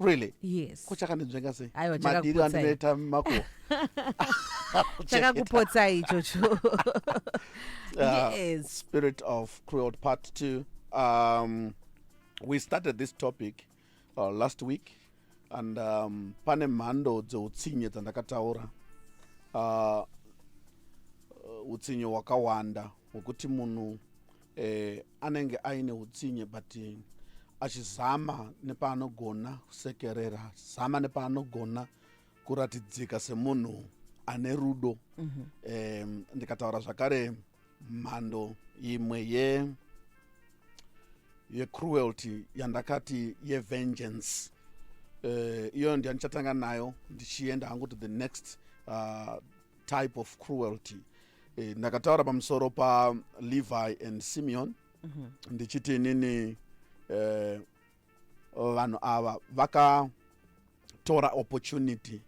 really yes ko chakandinzvenga sei Aiwa, madiri chakakupotsai. andinoita mako chakakupotsai ichocho Uh, yes spirit of cruel part two um, we started this topic uh, last week and um, pane mhando dzeutsinye dzandakataura uh, uh, utsinye hwakawanda hwekuti munhu eh, anenge aine utsinye but eh, achizama nepaanogona kusekerera zama nepaanogona kuratidzika semunhu ane rudo mm -hmm. eh, ndikataura zvakare mhando imwe ye yecruelty yandakati yevengeance eh, iyoyo uh, ndiyo ndichatanga nayo ndichienda hangu to the next uh, type of cruelty eh, ndakataura pamusoro palevi and simeon mm -hmm. ndichiti inini eh, vanhu ava vakatora opportunity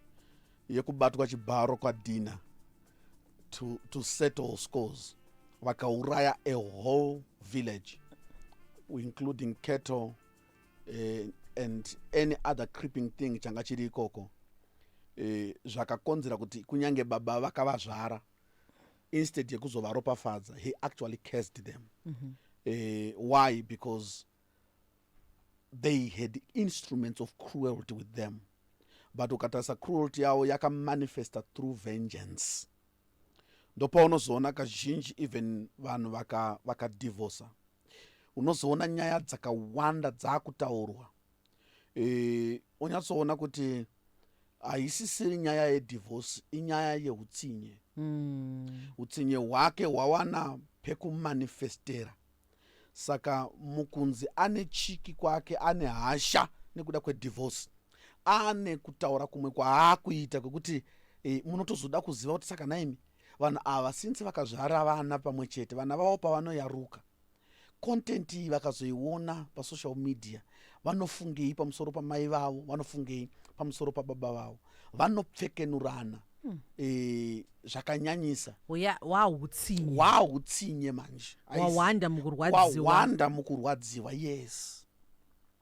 yekubatwa chibharo kwadina to, to settle scores vakauraya a whole village including cattle uh, and any other creeping thing changa chiri ikoko uh, zvakakonzera kuti kunyange baba vakavazvara instead yekuzovaropafadza he actually cased them mm -hmm. uh, why because they had instruments of cruelty with them but ukatarisa cruelty yavo yakamanifesta through vengeance ndopaunozoona kazhinji even vanhu vakadivorca vaka unozoona nyaya dzakawanda dzaakutaurwa e, onyatsoona kuti haisisiri nyaya yedivorce inyaya yeutsinye mm. utsinye hwake hwawana pekumanifestera saka mukunzi ane chiki kwake ane hasha nekuda kwedivorce ane kutaura kumwe kwaakuita kwekuti e, munotozoda kuziva kuti saka naimi vanhu ava since vakazvara vana pamwe chete vana vavo pavanoyaruka content iyi vakazoiona pasocial media vanofungei pamusoro pamai vavo vanofungei pamusoro pababa vavo vanopfekenurana hmm. eh, zvakanyanyisa wautsinye wautsinye manje wawanda mukurwadziwa yes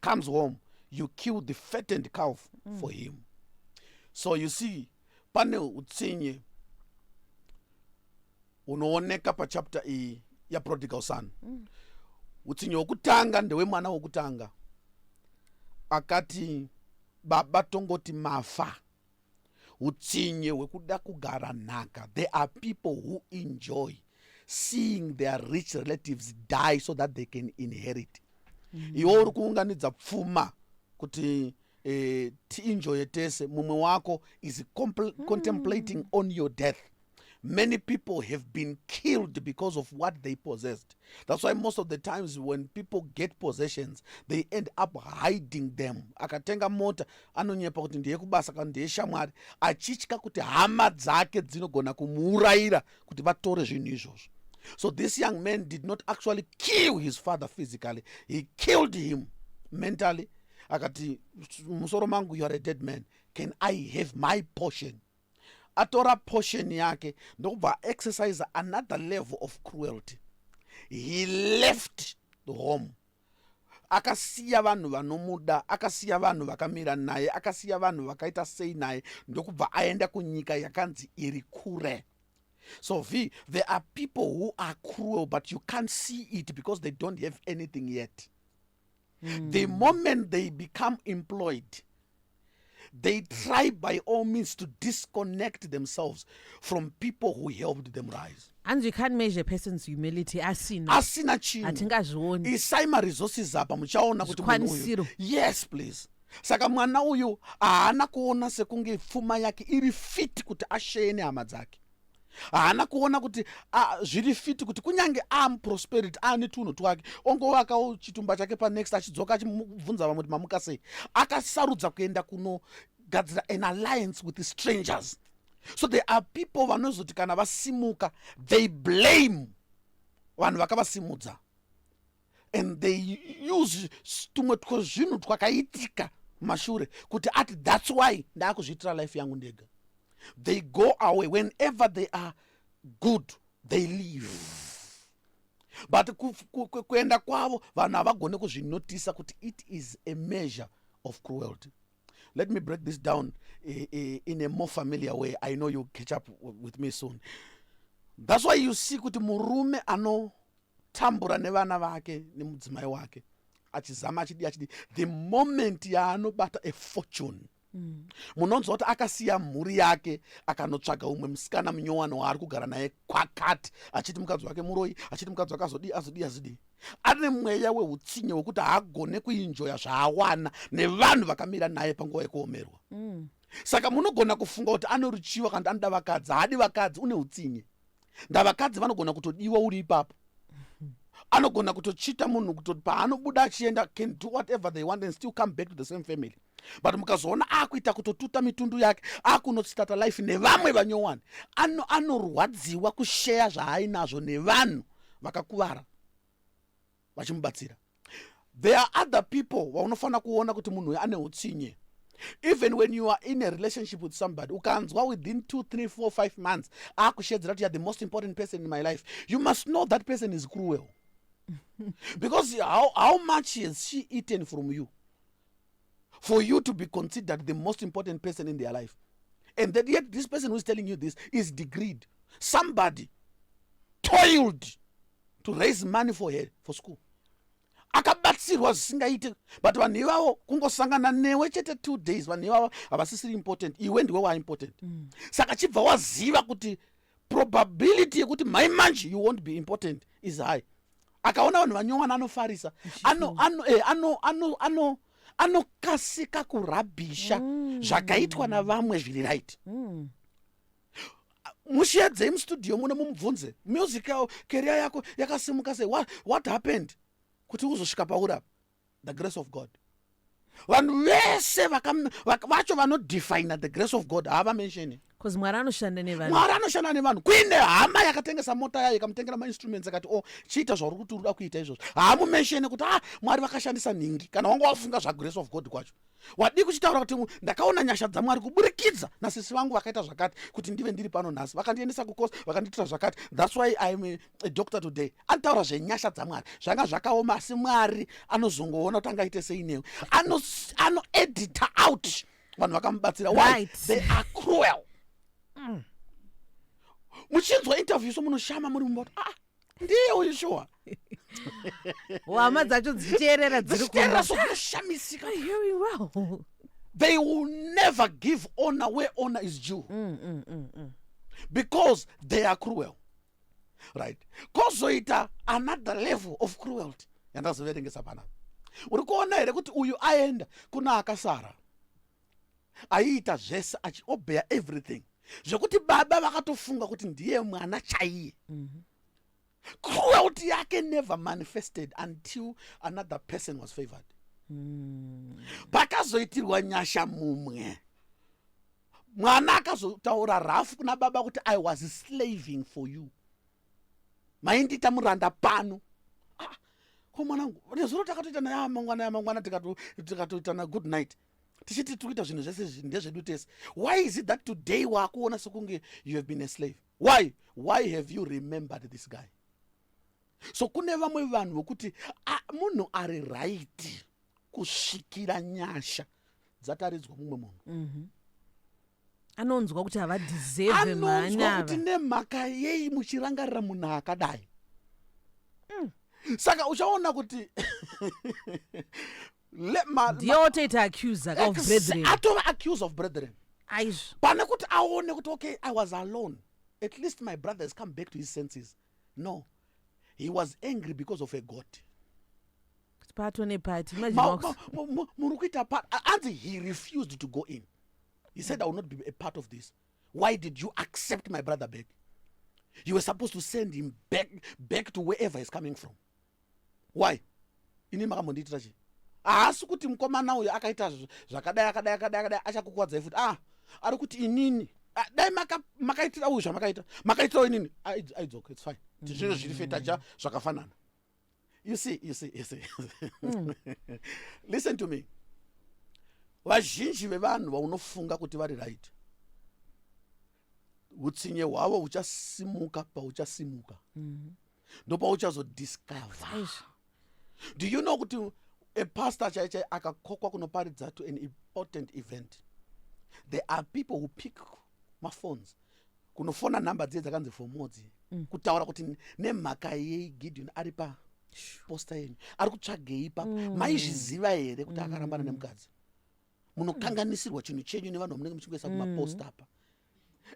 comes home you kill the fattened calf mm. for him so you see pane utsinye unooneka pachapter iyi yaprodigal son mm. utsinye wokutanga ndewemwana wokutanga akati baba tongoti mafa utsinye hwekuda kugara nhaka there are people who enjoy seeing their rich relatives die so that they can inherit mm. iwo uri kuunganidza pfuma kuti eh, tienjoye tese mumwe wako is mm. contemplating on your death many people have been killed because of what they possessed that's why most of the times when people get possessions they end up hiding them akatenga mota anonyepa kuti ndiye kubasa kana ndiye shamwari achitya kuti hama dzake dzinogona kumuurayira kuti vatore zvinhu izvozvo so this young man did not actually kill his father physically he killed him mentally akati musoro mangu you are a dead man can i have my portion atora portion yake ndokubva aexercise another level of cruelty he left the home akasiya vanhu vanomuda akasiya vanhu vakamira naye akasiya vanhu vakaita sei naye ndokubva aenda kunyika yakanzi iri kure so v there are people who are cruel but you can't see it because they don't have anything yet mm. the moment they become employed they try by all means to disconnect themselves from people who helped them rise hanzi you can't measure person's humility asina asina chinhu hatingazvioni isai maresources apa muchaona kuti kwanisiro yes please saka mwana uyu haana kuona sekunge pfuma yake iri fit kuti asheye nehama dzake haana kuona kuti zviri fiti kuti kunyange amuprosperity aane tunhu twake ongovakawo chitumba chake panext achidzoka achibvunza vamwe kuti mamuka sei akasarudza kuenda kunogadzira an alliance with strangers so there are people vanozoti kana vasimuka they blame vanhu vakavasimudza and they use tumwe twezvinhu twakaitika mashure kuti ati thats why ndaakuzviitira life yangu ndega they go away whenever they are good they leave but kuenda kwavo vanhu havagone kuzvinotisa kuti it is a measure of cruelty let me break this down eh, eh, in a more familiar way i know you catch up with me soon thats why you see kuti murume ano tambura nevana vake nemudzimai wake achizama achidi achidi the moment yaanobata a fortune mm. munonzwa kuti akasiya mhuri yake akanotsvaga umwe musikana munyowani waari kugara naye kwakati achiti mukadzi wake muroyi achiti mukadzi wake azodii azodii azodii ane mweya weutsinye wekuti haagone kuinjoya zvaawana nevanhu vakamira naye panguva yekuomerwa mm. saka munogona kufunga kuti anoruchiva kana kuti anoda vakadzi haadi vakadzi une utsinye ndavakadzi vanogona kutodiwa uri ipapo anogona kutochita munhu kutoti paanobuda achienda can do whatever they want and still come back to the same family but mukazoona akuita kutotuta mitundu yake akunotsitata life nevamwe vanyowani ano anorwadziwa kusheya zvaainazvo nevanhu vakakuvara vachimubatsira there are other people vaunofanira kuona kuti munhu uyu ane utsinye even when you are in a relationship with somebody ukanzwa within two three four five months akushedzera kuti youare the most important person in my life you must know that person is cruel because how, how much has she eaten from you for you to be considered the most important person in their life and that yet this person who is telling you this is degreed somebody toiled to raise money for her for school akabatsirwa zvisingaite but vanhu ivavo kungosangana newe chete two days vanhu ivavo havasisiri important iwe ndiwe waimportant mm. saka chibva waziva kuti probability yekuti mai manje you won't be important is high akaona vanhu vanyowana anofarisa eh, anokasika kurabhisha mm. zvakaitwa navamwe zviri right mm. mushedzei mustudio muno mumubvunze music yao keria yako yakasimuka sei what, what happened kuti uzosvika paurapa the grace of god vanhu vese vacho vanodefina the grace of god hava mensheni bcause mwari anoshanda nevanhu mwari anoshanda nevanhu kuine hama yakatengesa mota yayo ikamutengera mainstruments akati o oh, chiita zvauri kuti uruda kuita izvozvo haamumenshene kuti a ah, mwari vakashandisa nhingi kana wanga wafunga zvagrace of god kwacho wadii kuchitaura kuti ndakaona nyasha dzamwari kuburikidza nasisi vangu vakaita zvakati kuti ndive ndiri pano nhasi vakandiendesa kukosi vakandiitira zvakati thats why iam a, a doctor today anotaura zvenyasha dzamwari zvanga zvakaoma asi mwari anozongoona kuti angaite sei newe anoedita ano out vanhu vakamubatsira why they are cruel mm. muchinzwa interview so munoshama muri mumba kuti ah ndiye uyu shuwa hama dzacho dzichiteerera dziri kuno sokushamisika they will never give honor where honor is due mm, mm, mm, mm. because they are cruel right kozoita another level of cruelty yandazoverengesa panapa uri kuona here kuti uyu aenda kuna akasara aiita zvese achiobeya everything zvekuti baba vakatofunga kuti ndiye mwana chaiye mm -hmm. cruelty yake never manifested until another person was favored mm. pakazoitirwa nyasha mumwe mwana akazotaura rafu kuna baba kuti i was slaving for you maindiita muranda pano ah, ko mwanangu nezuro takatoita naye amangwana amangwana tikatoitana good night tichiti tiri kuita zvinhu zvese izvi ndezvedu tese why is it that today waakuona sokunge you have been a slave why why have you remembered this guy so kune vamwe vanhu vokuti munhu ari raiti kusvikira nyasha dzataridzwa mumwe munhu mm -hmm. anonzwa kuti havadeserve anonzwa kuti mhanyava nemhaka yei muchirangarira munhu akadai Mm. saka uchaona kuti le- ma- ndiye ma- otoita accuse ka of ex- brethren atova accuse of brethren aizvo pane kuti aone kuti okay i was alone at least my brother has come back to his senses no he was angry because of a god pato nepati muri kuita anzi he refused to go in he said i will not be a part of this why did you accept my brother back you were supposed to send him back, back to wherever he's coming from why ini makambondiitira chii haasi kuti mukomana uyo akaita zvakadai akadai akadai akadai achakukwadzai futi ah ari kuti inini ah, dai makaitira uyu zvamakaita makaitirawo inini aidzoka ah, its fine zvinhu zviri fetaja zvakafanana you see you see you see mm. listen to me vazhinji vevanhu vaunofunga kuti vari right utsinye hwavo huchasimuka pauchasimuka mm. ndopauchazodiscover do you know kuti a pastor chai chai akakokwa kunoparidza to an important event there are people who pick maphones kunofona nhamba dziye dzakanzi for more dziye mm. kutaura kuti nemhaka yei gideon ari pa posta yenyu ari kutsvagei papa mm. maizviziva here kuti mm. akarambana nemukadzi munokanganisirwa chinhu chenyu nevanhu vamunenge muchingoisa mm. kumaposta apa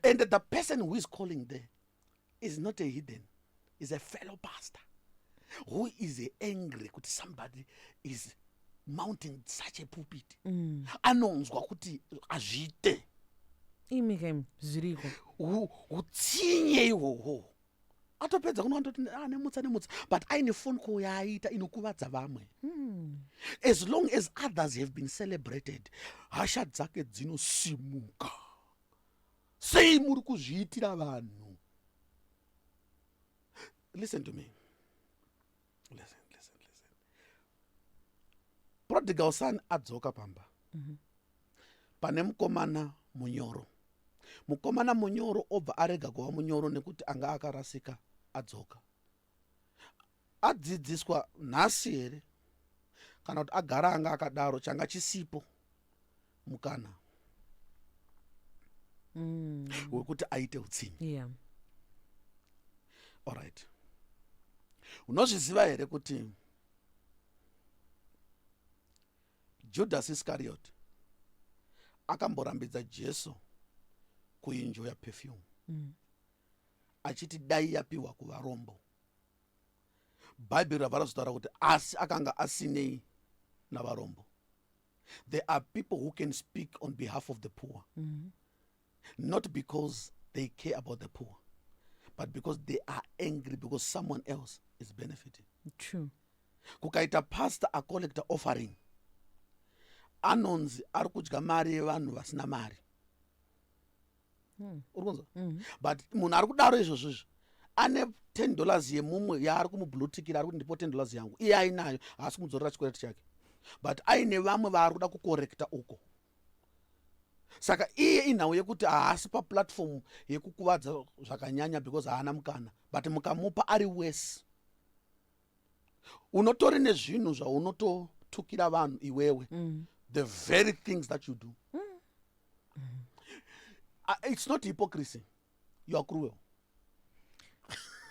and the person who is calling there is not a hidden is a fellow pastor who is angry kuti somebody is mounting such a pulpit mm. anonzwa kuti azviite imi kem zviriko utsinye ihwohwo atopedza kuno andoti ah, nemutsa nemutsa but aine phone call yaaiita inokuvadza vamwe mm. as long as others have been celebrated hasha dzake dzinosimuka sei muri kuzviitira vanhu listen to me listen listen listen prodigal son adzoka pamba mm -hmm. pane mukomana munyoro mukomana munyoro obva arega kuva munyoro nekuti anga akarasika adzoka adzidziswa nhasi here kana kuti agara anga akadaro changa chisipo mukana mm. wekuti aite utsinye yeah. allright unozviziva here kuti judhasi iskariyoti akamborambidza jesu kuinjo yapefyumu mm. achiti dai yapiwa kuvarombo bhaibheri rabva razotaura kuti asi akanga asinei navarombo there are people who can speak on behalf of the poor mm -hmm. not because they care about the poor but because they are angry because someone else is benefiting true kukaita pastor acollecta offering anonzi ari kudya mari yevanhu vasina mari hmm. uri kunzwa hmm. but munhu ari kudaro izvozvo izvo ane ten dollars yemumwe yaari kumublutikira ari kuti ndipo ten dollars yangu iye ainayo haasi kumudzorera chikwereti chake but aine vamwe vaari kuda kukorekta uko saka iye inhau yekuti haasi paplatform yekukuvadza zvakanyanya because haana mukana but mukamupa ari wese unotori nezvinhu zvaunototukira vanhu iwewe mm. the very things that you do mm. uh, it's not hypocrisy you are cruel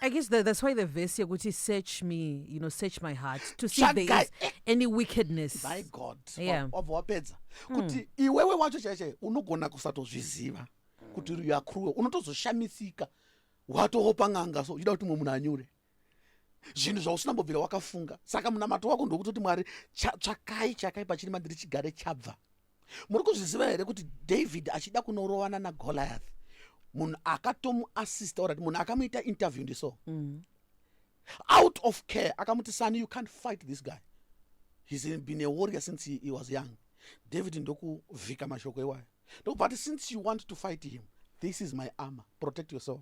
I guess that, that's why the verse here kuti search me, you know, search my heart to see if there Tsvagai. is any wickedness. my god Yeah. wabva wapedza kuti iwewe wacho chaichai unogona kusatozviziva kuti you are cruel unotozoshamisika watoopa n'anga so uchida kuti mumwe munhu anyure zvinhu zvausina mbobvira wakafunga saka munamato wako ndokutoti mwari tsvakai chakai pachiri mandiri chigare chabva muri kuzviziva here kuti david achida kunorovana nagoliath munhu akatomuassista orati munhu akamuita interview ndiso mm. out of care akamuti sani you can't fight this guy he's been a warrior since he, he was young david ndokuvhika mashoko iwayo ndokubva ati since you want to fight him this is my armor protect yourself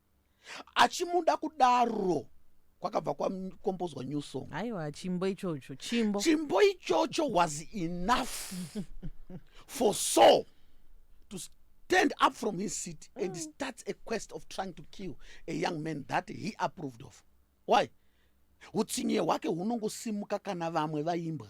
achimuda kudaro kwakabva kwakombozwa new song aiwa chimbo ichocho chimbo chimbo ichocho was enough for so to stand up from his seat mm. and start a quest of trying to kill a young man that he approved of why utsinye hwake hunongosimuka kana vamwe vaimbwa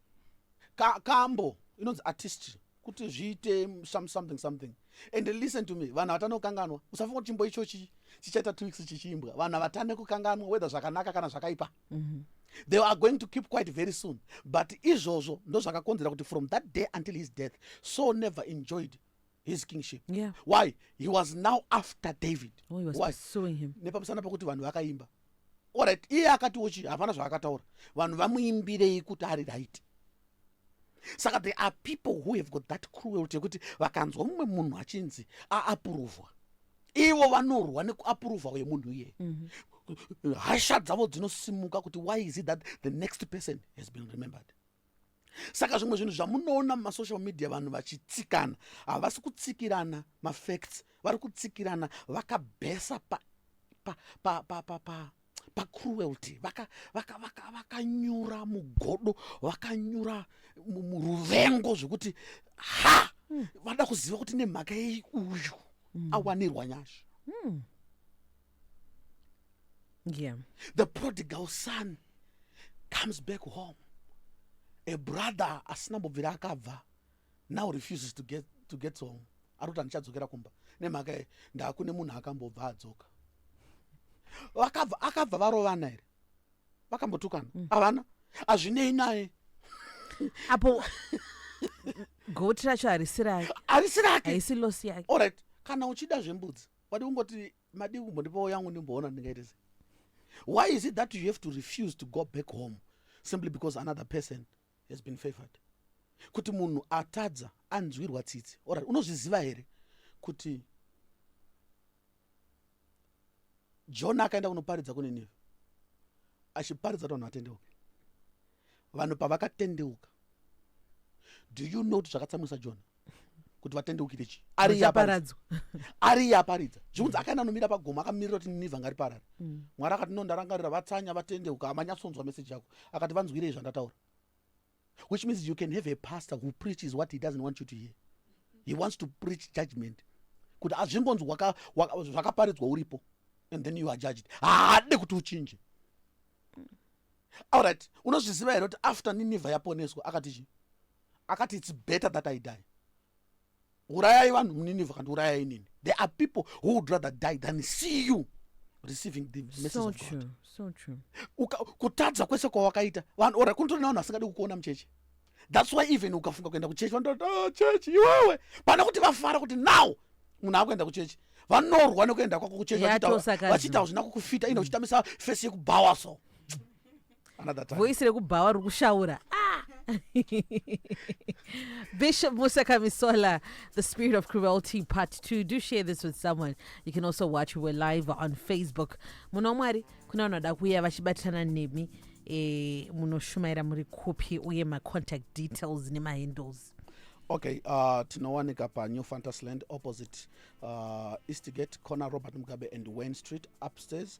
ka kambo inonzi artistry kuti zviite something something and listen to me vanhu vatane kukanganwa usafunga kuti chimbo ichochi chichaita two weeks chichiimbwa vanhu vatane kukanganwa whether zvakanaka kana zvakaipa mm -hmm. they are going to keep quite very soon but izvozvo ndozvakakonzera kuti from that day until his death so never enjoyed his kingship yeah. why he was now after david oh, he was why? pursuing him nepamusana pekuti vanhu vakaimba orit iye akatiwo chii hapana zvaakataura vanhu vamuimbirei kuti ari right saka there are people who have got that cruelty yekuti vakanzwa mumwe munhu achinzi aapuruvwa ivo vanorwa nekuapuruvha uye munhu iye mm -hmm. hasha dzavo dzinosimuka kuti why is it that the next person has been remembered saka zvimwe zvinhu zvamunoona mumasocial media vanhu vachitsikana havasi kutsikirana mafacts vari kutsikirana vakabhesa pa, pa, pa, pa, pa, pa pacruelty vakanyura mugodo vakanyura muruvengo zvekuti ha hmm. vada kuziva kuti nemhaka yei uyu hmm. awanirwa nyasha hmm. yeah. the prodigal son comes back home a brother asina mbobvira akabva now refuses to get, to get home ari kuti andichadzokera kumba nemhaka ye ndaakune munhu akambobva adzoka vakabva akabva varovana here vakambotukana mm. havana hazvinei naye apo goti racho harisi rake harisi rake haisi losi yake allright kana uchida zvembudzi wadi kungoti madii kumbondipawo yangu ndimboona ndingaite sei why is it that you have to refuse to go back home simply because another person has been favored kuti munhu atadza anzwirwa tsitsi orit unozviziva here kuti jona akaenda kunoparidza kuninive achiparidza kuti vanhu vatendeuke vanhu pavakatendeuka do you know kuti zvakatsamwisa jona kuti vatendeukire chii ariye aparidza zvikunzi akaenda anomira pagomo akamirira kuti ninivha ngariparare mm. mwari akati no ndarangarira vatsanya vatendeuka amanyatsonzwa meseji yako akati vanzwirei zvandataura which means you can have a pastor who preaches what he doesn't want you to hear he wants to preach judgment kuti azvingonzi zvakaparidzwa uripo and then you are judged haade kuti uchinje allright unozviziva here kuti after ninivha yaponeswa akati chii akati its better that i die urayai vanhu muninivha kandi urayai nini there are people who would rather die than see you receiving the message so of true, God. So true. Uka, kutadza kwese kwawakaita vanhu ora kunotorina vanhu vasingadi kukuona mucheche thats why even ukafunga kuenda kuchechi vanototi oh, ah, chechi iwewe pana kuti vafara kuti now munhu akuenda kuchechi vanorwa nekuenda kwako kuchechi vachiita vachina kukufita ine uchitamisa fesi yekubhawa so voisi rekubhawa riri kushaura ah! Bishop Musa Kamisola, The Spirit of Cruelty, Part 2. Do share this with someone. You can also watch We're Live on Facebook. Muno Mwari, kuna vanoda kuuya vachibatirana nemi eh, munoshumaira muri kupi uye macontact details nemahandles okay uh, tinowanika panew fantasy land opposite uh, eastgate corner robert mugabe and wayne street upstairs